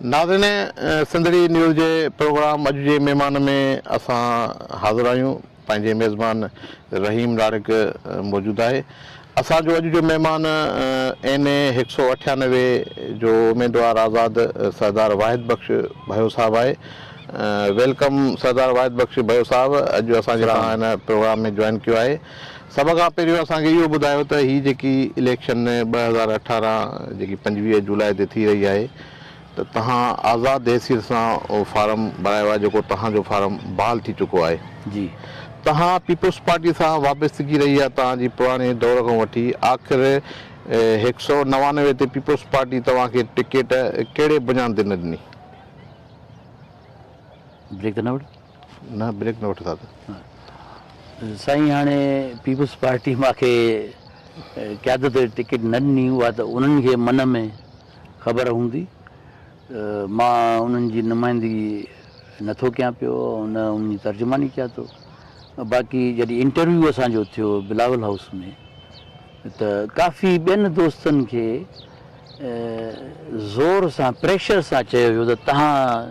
ناظرين سنڌڙي نيوز جي پروگرام اڄ جي مهمان ۾ اسان حاضر آهيون پنهنجي ميزبان رحيم ڏاڙهڪ موجود آهي اسان جو اڄ جو مهمان اين اي هڪ سؤ اٺيانوي جو اميدوار آزاد سردار واحد بخش ڀيو صاحب آهي ويلڪم سردار واحد بخش ڀيو صاحب اڄ اسان جي پروگرام ۾ جوائن ڪيو آهي سڀ کان پهريون اسان کي اهو ٻڌايو ته هي جيڪي اليڪشن ٻه هزار اٺارهن جيڪي پنجويهه جولاء تي ٿي رهي آهي ته توهان آزاد حيثيت سان اهو فارم ڀرايو آهي جيڪو توهان جو فارم بحال ٿي چڪو آهي جي توهان پيپلز پارٽي سان وابستگي رهي آهي توهان جي پراڻي دور کان وٺي آخر هڪ سؤ نوانوي تي پيپلز پارٽي توهان کي ٽڪيٽ ڪهڙي بنيان تي نه ڏني. بريڪ ته نه وٺ. نه بريڪ نه وٺ دادا. سائين هاڻي پيپلز پارٽي مان کي قيادت جي ٽڪيٽ نه ڏني اها ته انهن کي من ۾ خبر هوندي مان انهن جي نمائندگي نه ٿو ڪيان پيو نه انهن جي ترجماني ڪيان ٿو باقي جڏهن انٽرويو اسان جو ٿيو بلاول هائوس ۾ ته ڪافي ٻين دوستن کي زور سان پريشر سان چيو ويو ته تهان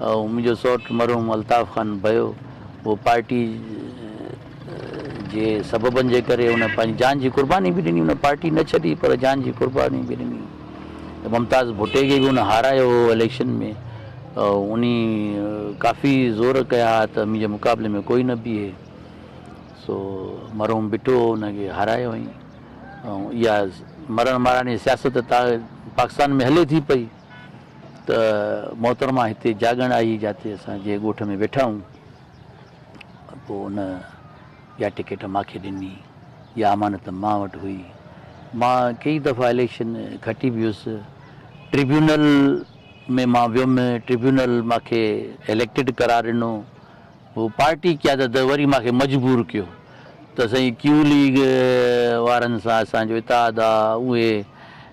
منهنجو سؤٽ مرحوم الطاف خان ڀيو اهو پارٽي جي سببن جي ڪري ان پنهنجي جان جي قرباني به ڏني ان پارٽي نه ڇڏي پر جان جي قرباني به ڏني ممتاز ڀٽي کي به ان هارايو هو اليڪشن ۾ ان ڪافي زور ڪيا ها ته منهنجي مقابلي ۾ ڪوئي نه بيهي سو مرحوم بٽو ان کي هارايو هئي اها مرڻ مارڻ جي سياست پاڪستان ۾ هلي ٿي پئي ته محترمه هتي جاڳڻ آئي جاتي اسان جي ڳوٺ ۾ ويٺا هون پوء ان يا ٽڪيٽ ماکي ڏني يا امانت مان وٽ هئي مان ڪيئي دفعا اليڪشن کٽي به هيس ٽريبيونل ۾ مان ويم ٽريبيونل ماکي اليڪٽيڊ قرار ڏنو پوء پارٽي قيادت وري ماکي مجبور ڪيو ته سائين ڪيو ليگ وارن سان اسان جو اتحاد آ اهي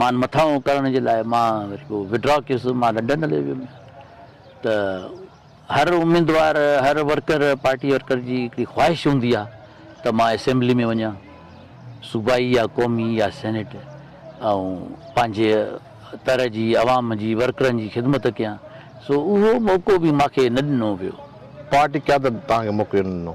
مان مٿانهون ڪرڻ جي لاء مان وري پوء وڊرا ڪيس مان لنڊن هليو ويم ته هر اميدوار هر ورڪر پارٽي ورڪر جي هڪڙي خواهش هوندي آهي ته مان اسيمبلي ۾ وڃان صوبائي يا قومي يا سينيٽ ۽ پنهنجي تر جي عوام جي ورڪرن جي خدمت ڪيان سو اهو موقعو به مانکي نه ڏنو ويو پارٽي قيادت توهان کي موقعو نه ڏنو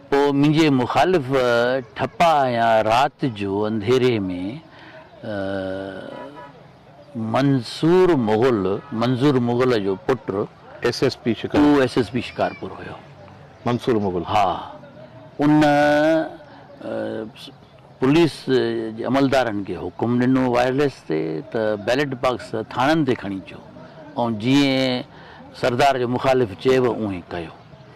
پوء منهنجي مخالف ٺپا هنيا رات جو انڌيري ۾ منصور مغل، منظور مغل جو پٽ، ايس ايس پي شڪارپور، اهو ايس ايس پي شڪارپور هيو. منصور مغل. ها. ان پوليس جي عملدارن کي حڪم ڏنو وائرليس تي ته بيلٽ باڪس ٿاڻن تي کڻي اچو ۽ جيئن سردار جو مخالف چيو اونهي ڪيو.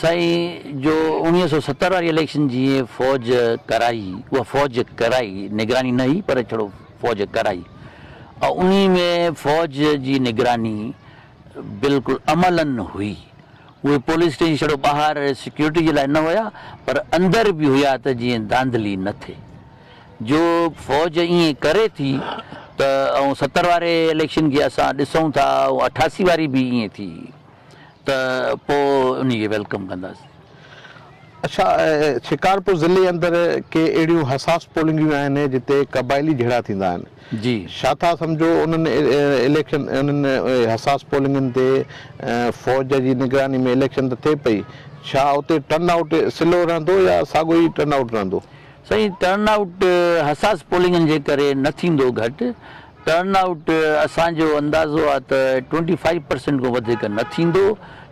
سائين جو اوڻيهه سؤ ستر واري اليڪشن جي فوج ڪرائي اها فوج ڪرائي نگراني نه هئي پر ڇڙو فوج ڪرائي او انهي ۾ فوج جي نگراني بلڪل عملا هئي اهي پوليس اسٽيشن ڇڙو ٻاهر سيڪيورٽي جي لاء نه هيا پر اندر به هيا ته جيئن ڌانڌلي نه ٿئي جو فوج ائين ڪري ٿي ته ستر واري اليڪشن کي اسان ڏسون ٿا اٺاسي واري به ائين ٿي. ته پوء انهي کي ويلڪم ڪنداسين. اڇا شڪارپور ضلعي اندر ڪي اهڙيون حساس پولنگيون آهن جتي قبائلي جهيڙا ٿيندا آهن ڇا ٿا سمجهو انهن اليڪشن انهن حساس پولنگين تي فوج جي نگراني ۾ اليڪشن ته ٿئي پئي ڇا اتي ٽرن آئوٽ سلو رهندو يا ساڳو ئي ٽرن آئوٽ رهندو. سائين ٽرن آئوٽ حساس پولنگين جي ڪري نه ٿيندو گهٽ ٽرن آئوٽ اسان جو اندازو آهي ته ٽوئنٽي فائيو پرسينٽ کان وڌيڪ نه ٿيندو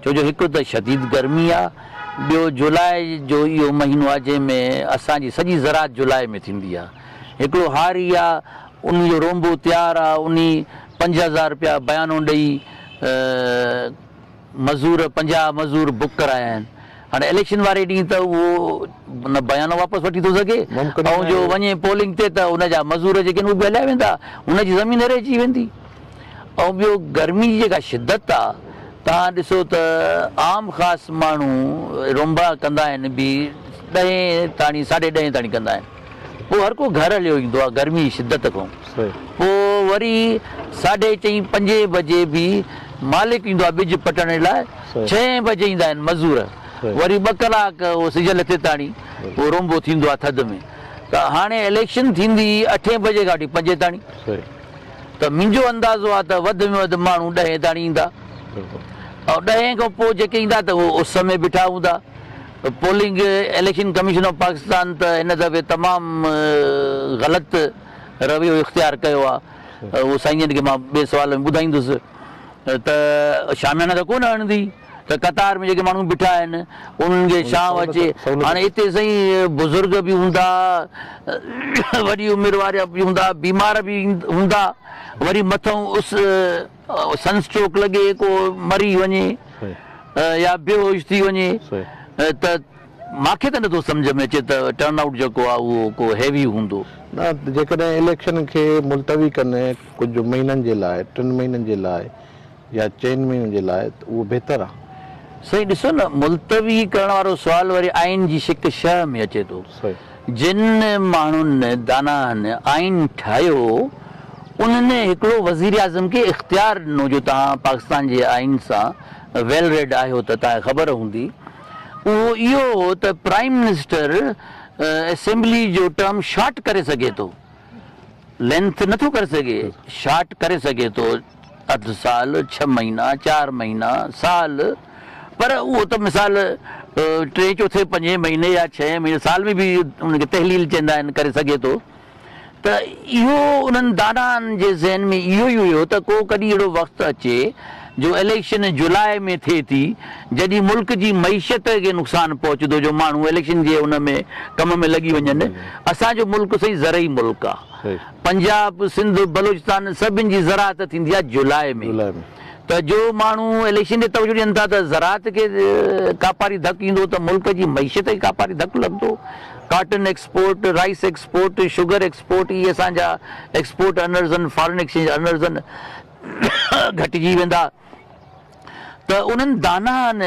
ڇو جو هڪ ته شديد گرمي آهي ٻيو جولاء جو اهو مهينو آهي جنهن ۾ اسان جي سڄي زراعت جولاء ۾ ٿيندي آهي هڪڙو هاري آهي ان جو رونبو تيار آهي انهي پنج هزار رپيا بيانو ڏئي مزور پنجاهه مزور بڪ ڪرايا آهن هاڻي اليڪشن واري ڏينهن ته اهو نه بيانو واپس وٺي ٿو سگهي ۽ جو وڃي پولنگ تي ته ان جا مزور جيڪي آهن اهي به هليا ويندا هن جي زمين هيري اچي ويندي ۽ ٻيو گرمي جي جيڪا شدت آهي توهان ڏسو ته عام خاص ماڻهو رونبا ڪندا آهن به ڏهين تاڻي ساڍي ڏهين تاڻي ڪندا آهن پوء هر ڪو گهر هليو ايندو آهي گرمي جي شدت کان پوء وري ساڍي چئين پنجين بجي به مالڪ ايندو آهي ٻج پٽڻ لاء ڇهين بجي ايندا آهن مزور وري ٻه ڪلاڪ اهو سج لٿي تاڻي اهو رونبو ٿيندو آهي ٿڌ ۾ ته هاڻي اليڪشن ٿيندي اٺين بجي کان وٺي پنجين تاڻي ته منهنجو اندازو آهي ته وڌ ۾ وڌ ماڻهو ڏهين تاڻي ايندا ۽ ڏهين کان پوء جيڪي ايندا ته اهو اس ۾ بيٺا هوندا. Polling, election commission of Pakistan ته هن دفعي تمام غلط رويو اختيار ڪيو آ، اهو سائين جن کي مان ٻئي سوال ۾ ٻڌائيندس ته شاميانا ته ڪونه هڻندي ته قطار ۾ جيڪي ماڻهو بيٺا آهن انهن کي ڇانو اچي، هاڻي اتي سائين بزرگ به هوندا، وڏي عمر وارا به هوندا، بيمار به هوندا، وري مٿئون اس. سن اسٽروڪ لڳي ڪو مري وڃي يا بيهوش ٿي وڃي ته مان کي ته نٿو سمجهه ۾ اچي ته ٽرن آئوٽ جيڪو آهي اهو ڪو هيوي هوندو. نه جيڪڏهن اليڪشن کي ملتوي ڪن ڪجهه مهينن جي لاء ٽن مهينن جي لاء يا چئن مهينن جي لاء ته اهو بهتر آهي. سائين ڏسو نه ملتوي ڪرڻ وارو سوال وري آئين جي شق شهه ۾ اچي ٿو. جن ماڻهن داناهن آئين ٺاهيو هو، انهن هڪڙو وزيراعظم کي اختيار ڏنو جو توهان پاڪستان جي آئين سان ويل ريڊ آهيو ته توهان کي خبر هوندي اهو اهو هو ته پرائيم منسٽر اسيمبلي جو ٽرم شارٽ ڪري سگهي ٿو لينٿ نٿو ڪري سگهي شارٽ ڪري سگهي ٿو. اڌ سال، ڇهه مهينا، چار مهينا، سال پر اهو ته مثال ٽئين چوٿين پنجين مهيني يا ڇهين مهيني سال ۾ به ان کي تحليل چئندا آهن ڪري سگهي ٿو ته اهو انهن دانائن جي ذهن ۾ اهو ئي هيو ته ڪو ڪڏهن اهڙو وقت اچي جو اليڪشن جولاء ۾ ٿئي ٿي جڏهن ملڪ جي معيشت کي نقصان پهچندو جو ماڻهو اليڪشن جي ان ۾ ڪم ۾ لڳي وڃن اسان جو ملڪ سائين زرعي ملڪ آهي پنجاب، سنڌ، بلوچستان سڀني جي زراعت ٿيندي آهي جولاء ۾، ته جو ماڻهو اليڪشن ڏي توجهه ڏين ٿا ته زراعت کي ڪاپاري ڌڪ ايندو ته ملڪ جي معيشت کي ڪاپاري ڌڪ لڳندو، cotton export, rice export, sugar export اهي اسان جا ايڪسپورٽ ارنرز آهن، فارن ايڪسچينج ارنرز آهن، گهٽجي ويندا. ته انهن دانائن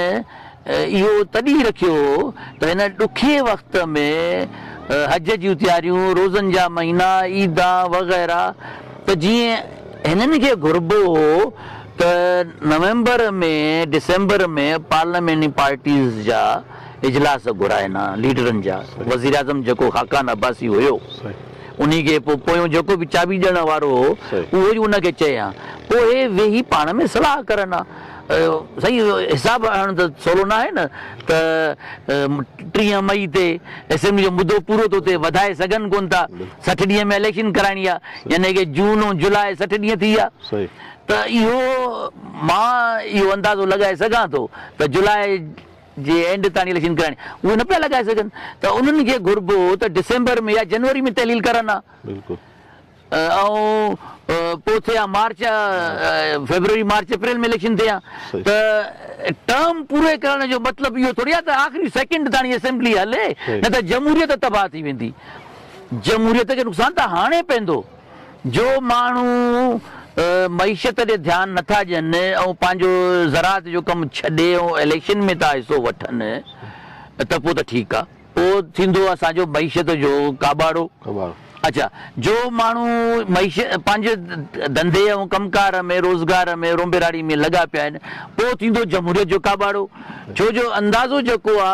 اهو تڏهن رکيو هو ته هن ڏکي وقت ۾ حج جون تياريون، روزن جا مهينا، عيدان وغيره ته جيئن هنن کي گهربو هو ته نومبر ۾ ڊسمبر ۾ پارلياميني پارٽيز جا اجلاس گهرائن ها ليڊرن جا، وزيراعظم جيڪو خاقان عباسي هيو. انهي کي پوء پويون جيڪو به چاٻي ڏيڻ وارو هو اهو ئي ان کي چئي ها. پوء اهي ويهي پاڻ ۾ صلاح ڪرن ها. سائين حساب هڻڻ ته سولو ناهي نه ته ٽيهه مئي تي اسيمبلي جو مدو پورو ٿو ٿئي وڌائي سگهن ڪونه ٿا. سٺ ڏينهن ۾ اليڪشن ڪرائڻي آ يعني ڪي جون ۽ جولاء سٺ ڏينهن ٿي ويا ته اهو مان اهو اندازو لڳائي سگهان ٿو ته جولاء جي اينڊ تائين اليڪشن ڪرائڻي اهي نه پيا لڳائي سگهن ته انهن کي گهربو ته ڊسمبر ۾ يا جنوري ۾ تحليل ڪرن ها ۽ پوء ٿئي ها March February March April ۾ election ٿئي ها ته ٽرم پوري ڪرڻ جو مطلب اهو ٿوري آهي ته آخري سيڪنڊ تائين اسيمبلي هلي نه ته جمهوريت تباهه ٿي ويندي جمهوريت کي نقصان ته هاڻي پوندو. جو ماڻهو معيشت ڏي ڌيان نه ٿا ڏين ۽ پنهنجو زراعت جو ڪم ڇڏي ۽ اليڪشن ۾ ٿا حصو وٺن ته پوء ته ٺيڪ آ. پوء ٿيندو اسان جو معيشت جو ڪاٻاڙو. اڇا جو ماڻهو معيشت پنهنجي ڌنڌي ۽ ڪم ڪار ۾ روزگار ۾ رونبراڙي ۾ لڳا پيا آهن پوء ٿيندو جمهوريت جو ڪاٻاڙو. ڇو جو اندازو جيڪو آ.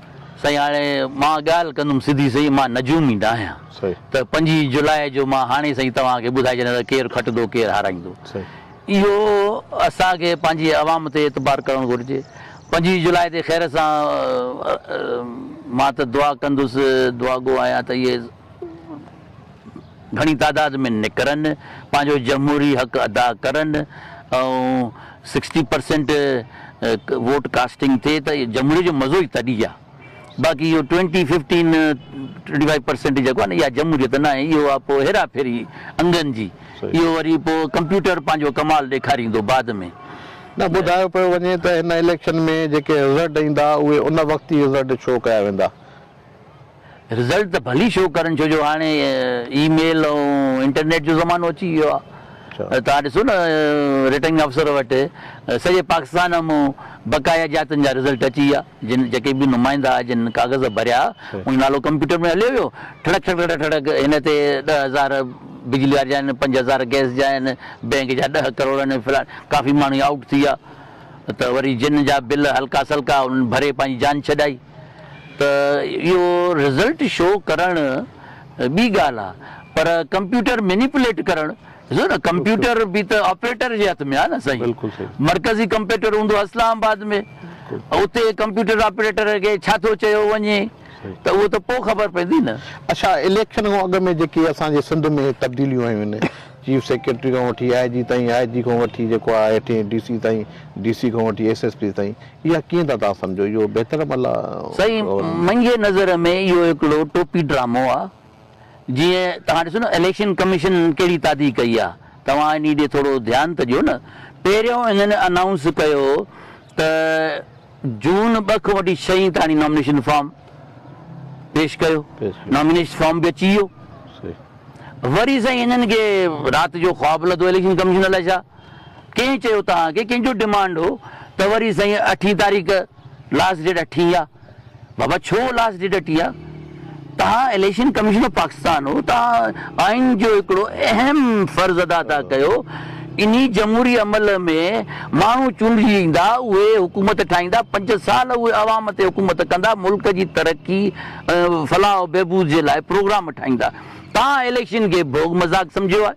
سائين هاڻي مان ڳالهه ڪندم سڌي سئي مان نجومي ناهيان ته پنجين جولاء جو مان هاڻي سائين توهان کي ٻڌائي ڇڏيان ته ڪير کٽندو ڪير هارائيندو اهو اسان کي پنهنجي عوام تي اعتبار ڪرڻ گهرجي پنجين جولاء تي خير سان مان ته دعا ڪندس دعاگو آهيان ته اهي گهڻي تعداد ۾ نڪرن، پنهنجو جمهوري حق ادا ڪرن ۽ سڪسٽي پرسينٽ ووٽ ڪاسٽنگ ٿئي ته جمهوري جو مزو ئي تڏهن آ. باقي اهو twenty fifteen twenty five percent جيڪو آ نه اها جمهوريت ناهي اهو آ پوء هيرا ڦيري انگن جي اهو وري پوء ڪمپيوٽر پنهنجو ڪمال ڏيکاريندو بعد ۾. نه ٻڌايو پيو وڃي ته هن اليڪشن ۾ جيڪي رزلٽ ايندا اهي ان وقت ئي رزلٽ شو ڪيا ويندا. رزلٽ ته ڀلي شو ڪرن ڇو جو هاڻي اي ميل ۽ انٽرنيٽ جو زمانو اچي ويو آهي توهان ڏسو نه رٽرنگ افسر وٽ سڄي پاڪستان مون بقايا جاتن جا رزلٽ اچي ويا جن جيڪي به نمائندا جن ڪاغذ ڀريا ان جو نالو ڪمپيوٽر ۾ هليو ويو ٺڙڪ ٺڙڪ ٺڙڪ ٺڙڪ هن تي ڏهه هزار بجلي واري جا آهن پنج هزار گئس جا آهن بئنڪ جا ڏهه ڪروڙ آهن فلاڻ ڪافي ماڻهو آئوٽ ٿي ويا ته وري جن جا بل هلڪا سلڪا انهن ڀري پنهنجي جان ڇڏائي. ته اهو رزلٽ شو ڪرڻ ٻي ڳالهه آ پر ڪمپيوٽر مينيپوليٽ ڪرڻ ڏسو نه ڪمپيوٽر به ته آپريٽر جي هٿ ۾ آ نه سائين مرڪزي ڪمپيوٽر هوندو آ اسلام آباد ۾ اتي ڪمپيوٽر آپريٽر کي ڇا ٿو چيو وڃي ته اهو ته پو خبر پوندي نه. اڇا اليڪشن کان اڳ ۾ جيڪي اسان جي سنڌ ۾ هي تبديليون آيون آهن چيف سيڪريٽري کان وٺي آء جي تائين آء جي کان وٺي جيڪو آ هيٺين ڊي سي تائين ڊي سي کان وٺي ايس ايس پي تائين اها ڪيئن ٿا توهان سمجهو؟ اهو بهتر عمل آهي. سائين منهنجي نظر ۾ اهو هڪڙو ٽوپي ڊرامو آ جيئن توهان ڏسو نه اليڪشن ڪميشن ڪهڙي تادي ڪئي آ توهان انهي ڏي ٿورو ڌيان ته ڏيو نه پهريون انهن انائونس ڪيو ته جون ٻه کان وٺي ڇهين تاڻي نامينيشن فارم پيش ڪيو نامينيش فارم به اچي ويو وري سائين انهن کي رات جو خواب لڌو اليڪشن ڪميشن الائي ڇا ڪنهن چيو توهان کي ڪنهن جو ڊمانڊ هو ته وري سائين اٺين تاريخ لاسٽ ڊيٽ اٺين آ بابا ڇو لاسٽ ڊيٽ اٺين آ توهان اليڪشن ڪميشن آف پاڪستان هو توهان آئين جو هڪڙو اهم فرض ادا ٿا ڪيو انهي جمهوري عمل ۾ ماڻهو چونڊجي ايندا اهي حڪومت ٺاهيندا پنج سال اهي عوام تي حڪومت ڪندا ملڪ جي ترقي فلاح و بهبود جي لاء پروگرام ٺاهيندا توهان اليڪشن کي ڀوڳ مذاق سمجهيو آ.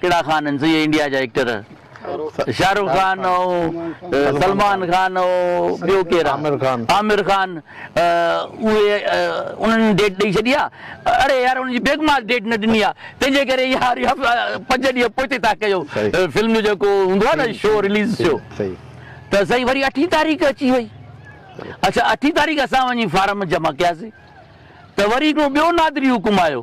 ڪهڙا خان آهن سيئي انڊيا جا ايڪٽر شاهه رخ خان سلمان خان ٻيو ڪير آهي عامر خان اهي انهن ڊيٽ ڏئي ڇڏي آ اڙي يار انهن جي بيگماس ڊيٽ نه ڏني آ تنهنجي ڪري يار پنج ڏينهن پوئتي ٿا ڪيو فلم جو جيڪو هوندو آ نه شو رليز شو ته سائين وري اٺين تاريخ اچي وئي اڇا اٺين تاريخ اسان وڃي فارم جمع ڪياسي ته وري هڪڙو ٻيو نادري حڪم آيو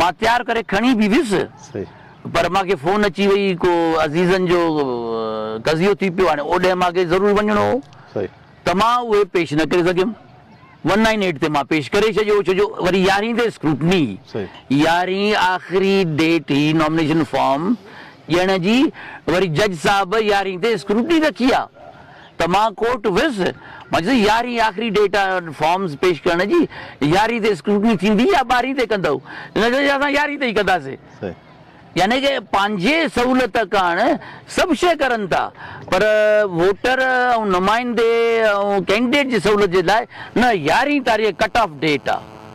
مان تيار ڪري کڻي به ويس پر مان کي فون اچي وئي ڪو عزيزن جو تزيو ٿي پيو هاڻي اوڏهن مان کي ضرور وڃڻو هو ته مان اهي پيش نه ڪري سگهيم ون نائن ايٽ تي مان پيش ڪري ڇڏيو ڇو جو وري يارهين تي اسڪروٽني هئي يارهين آخري ڊيٽ هئي نامنيشن فارم ڏيڻ جي وري جج صاحب يارهين تي اسڪروٽني رکي آ. ته مان ڪورٽ ويس، مان چيس يارهين آخري ڊيٽ آهي انهن فارمز پيش ڪرڻ جي، يارهين تي اسڪروٽني ٿيندي يا ٻارهين تي ڪندؤ؟ هن چيو اسان يارهين تي ئي ڪنداسين. يعني ڪه پنهنجي سهولت ڪاڻ سڀ شيء ڪرن ٿا پر ووٽر ۽ نمائندي ۽ ڪينڊيڊيٽ جي سهولت جي لاء نه يارهين تاريخ ڪٽ آف ڊيٽ آ.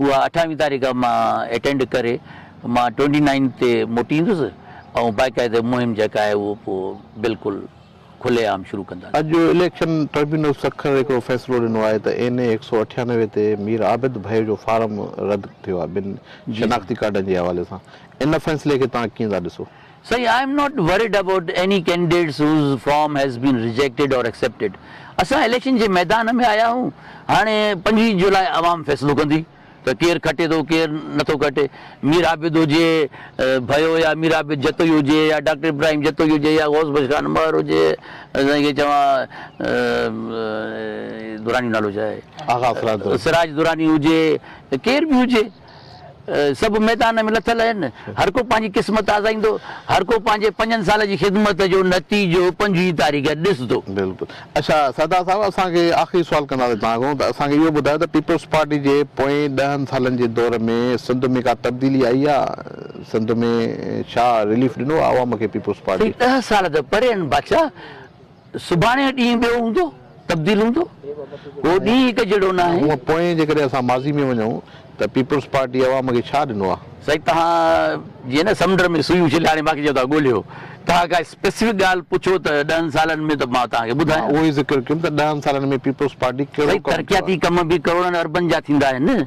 اها اٺاويهه تاريخ مان اٽينڊ ڪري مان ٽوئنٽي نائن تي موٽي ايندس ۽ باقاعده مهم جيڪا آهي اهو پوء بلڪل کلي عام شروع ڪنداسين. اڄ اليڪشن ٽربيونل سکر هڪڙو فيصلو ڏنو آهي ته اين اي هڪ سؤ اٺيانوي تي مير عابد ڀائيو جو فارم رد ٿيو آهي بن شناختي ڪارڊن جي حوالي سان ان فيصلي کي توهان ڪيئن ٿا ڏسو؟ سائين I am not worried about any candidates whose form has been rejected or accepted اسان اليڪشن جي ميدان ۾ آيا آهيون هاڻي پنجويهه جولاء عوام فيصلو ڪندي ته ڪير کٽي ٿو ڪير نٿو کٽي مير عابد هجي ڀيو يا مير عابد جتوئي هجي يا ڊاڪٽر ابراهيم جتوئي هجي يا غوث بخش خان مهر هجي سائين کي چوان دراني نالو ڇا آهي سراج دراني هجي ڪير به هجي. سڀ ميدان ۾ لٿل آهن، هر ڪو پنهنجي قسمت آزائيندو، هر ڪو پنهنجي پنجن سالن جي خدمت جو نتيجو پنجويهه تاريخ ڏسندو. بلڪل اڇا سردار صاحب اسان کي آخري سوال ڪنداسين توهان کان ته اسان کي اهو ٻڌايو ته پيپلز پارٽي جي پوئين ڏهن سالن جي دور ۾ سنڌ ۾ ڪا تبديلي آئي آ سنڌ ۾ ڇا رليف ڏنو آ عوام کي پيپلز پارٽي. سائين ڏهه سال ته پري آهن بادشاهه سڀاڻي جو ڏينهن ٻيو هوندو، تبديل هوندو، اهو ڏينهن هڪ جهڙو نه آهي. هونء پوئين جيڪڏهن اسان ماضي ۾ وڃون ته پيپلز پارٽي عوام کي ڇا ڏنو آهي؟ سائين توهان جيئن نه سمنڊ ۾ سوئي اڇلي هاڻي مانکي چئو ٿا ڳوليو توهان ڪا اسپيسفڪ ڳالهه پڇو ته ڏهن سالن ۾ ته مان توهان کي ٻڌايان. مان اهو ئي ذڪر ڪيم ته ڏهن سالن ۾ پيپلز پارٽي ڪهڙو ڪم ڪيو آهي؟ سائين ترقياتي ڪم به ڪروڙن اربن جا ٿيندا آهن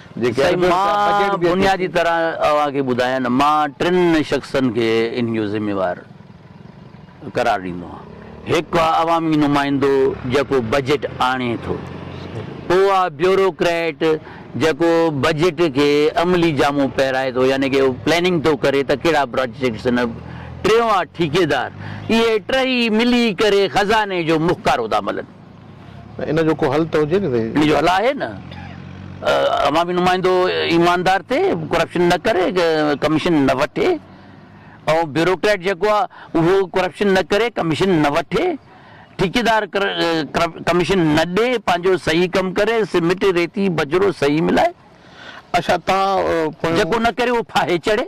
سائين مان بنيادي طرح اوهان کي ٻڌايان مان ٽن شخصن کي ان جو ذميوار قرار ڏيندو آهيان هڪ آ عوامي نمائندو جيڪو بجيٽ آڻي ٿو پو آ بيورو ڪريٽ جيڪو بجيٽ کي عملي جامو پهرائي ٿو يعني ڪي پلاننگ ٿو ڪري ته ڪهڙا پراجيڪٽس هن ٽيون آ ٺيڪيدار اهي ٽهي ملي ڪري خزاني جو مخڪارو ٿا ملن. ان جو ڪو حل ته هجي نه سائين. ان جو حل آهي نه عوامي نمائندو ايماندار ٿئي ڪرپشن نه ڪري ڪميشن نه وٺي ۽ بيوروڪريٽ جيڪو آ اهو ڪرپشن نه ڪري ڪميشن نه وٺي ٺيڪيدار ڪميشن نه ڏي پنهنجو صحيح ڪم ڪري سمٽ ريتي بجرو صحيح ملائي اشا تان پويون. جيڪو نه ڪري اهو ڦاهي چڙهي.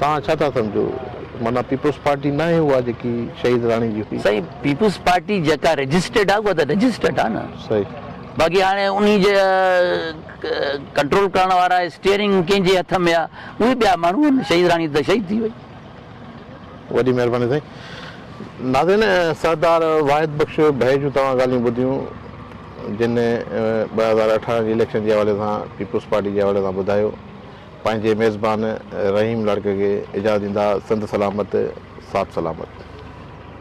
توهان ڇا ٿا سمجهو؟ معنيٰ پيپلز پارٽي ناهي اها جيڪي شهيد راڻي جي هئي. سائين پيپلز پارٽي جيڪا رجسٽرڊ آ اها ته رجسٽرڊ آ نه. صحيح. باقي هاڻي انهي جي ڪنٽرول ڪرڻ وارا اسٽيئرنگ ڪنهن جي هٿ ۾ آ اهي ٻيا ماڻهو آهن شهيد راڻي ته شهيد ٿي وئي. وڏي مهرباني سائين. ناظرين سردار واحد بخش ڀي جون توهان ڳالهيون ٻڌيون جن ٻه هزار اٺارهن جي اليڪشن جي حوالي سان پيپلز پارٽي جي حوالي سان ٻڌايو. پنهنجي ميزبان رحيم لاڙڪاڻي کي اجازت ڏيندا سنڌ سلامت ساٿ سلامت.